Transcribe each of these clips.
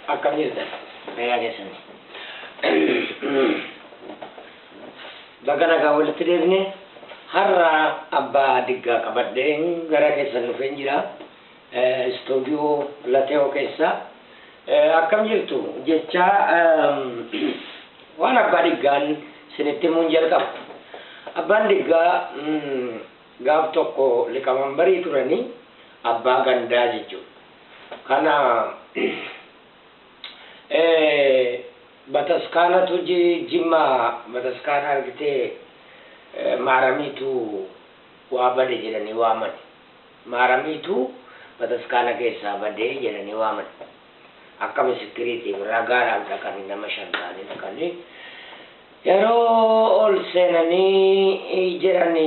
Akkam jirta? Fayyaa keessan. Baga nagaa walitti deebine har'a abbaa diggaa qabadheen gara keessan dhufeen jira. Istuudiyoo Late'oo keessaa. Akkam jirtu? Jechaa waan abbaa dhiggaan isinitti himuun jalqaba. Abbaan dhiggaa gaaf tokko liqamanbarii turanii abbaa gandaa jechuudha. Kana bataskaanatu jimmaa bataskaana argitee maaramiitu waa bade jedhanii waamani. Maaramiitu bataskaana keessaa bade jedhanii waaman. Akka misikkiriitiif ragaadhaaf dhaqanii nama shan ta'anii dhaqanii yeroo ol seenanii jedhan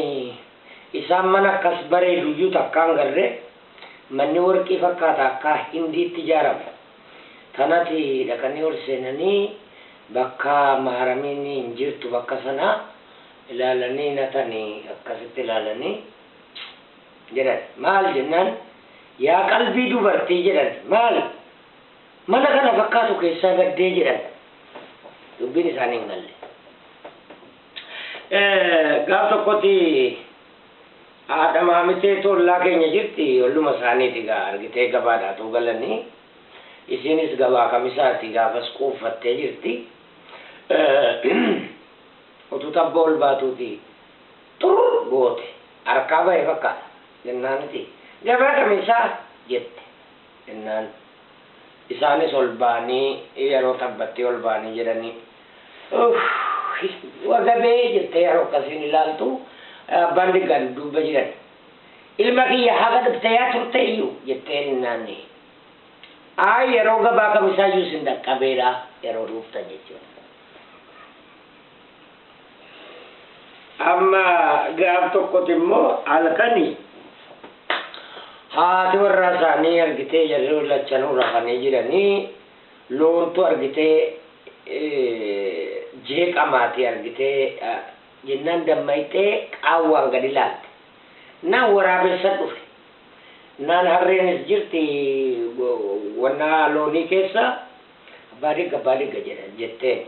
isaan mana akkas bareedu iyyuu takkaa hin garre. Manni warqii fakkaata akkaa Hindiitti ijaarame. Tanati dhaqanii ol seenanii bakka Maaramiin hin jirtu bakka sana ilaalanii natani akkasitti ilaalanii. jedhan. Maal jennaan, Yaa qalbii dubartii jedhan. Maal? Mana kana fakkaatu keessaa baddee jedhan. Dubbiin isaanii hin galle. Gaaf tokkotti haadha maamitee tollaa keenya jirti olluma isaaniiti gaa argitee gabaadhaa too galanii isiinis gabaa kamisaati gaafas quuffattee jirti. Utuu tabba ol baatuuti Xurr goote. Harkaa bahe fakkaata. Jennaan iti. Gabaa kamisaa? jette. Jennaan isaanis ol bahanii yeroo tabbattii ol bahanii jedhanii uuhhii wagabee jettee yeroo akkasiin ilaaltu abbaan diggaan duubba jiran ilma kiyya haga dhufteeyaa turteeyyu? jettee jennaan ayi yeroo gabaa kamisaayyuu sin dhaqqabeedha yeroo dhuuftan jechuudha. Amma gaaf tokkoti immoo halkani haati warraa isaanii argitee jarri lachanuu rafanii jiranii loontu argitee jeeqamaati argitee jennaan dammayxee qaawwaan gadi laalte. Naan waraabessa dhufe. Naan harreenis jirti wannaa loonii keessa abbaa digga abbaa digga jedhan jetteen.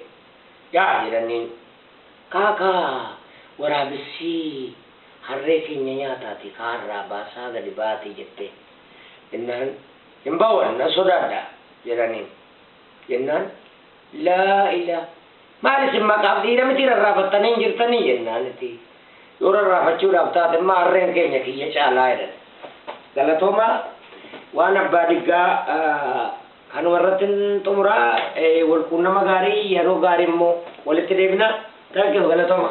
Yaa jedhaniin. Kaa kaa waraabessii harree keenya nyaataatii kaa harraa baasaa gadi ba'aatii jettee. Jennaan hin ba'u ani nan sodaadha jedhaniin. Jennaan laa ila maal isin maqaaf dhiira mitii rarraafattanii hin jirtanii jennaan iti yoo rarraafachuudhaaf taate immoo harreen keenya kiyya caalaa jedhan. Galatoomaa waan abbaa diggaa. Kanuma irrattin xumura wal quunnama gaarii yeroo gaarii immoo walitti deebina thank you galatoma.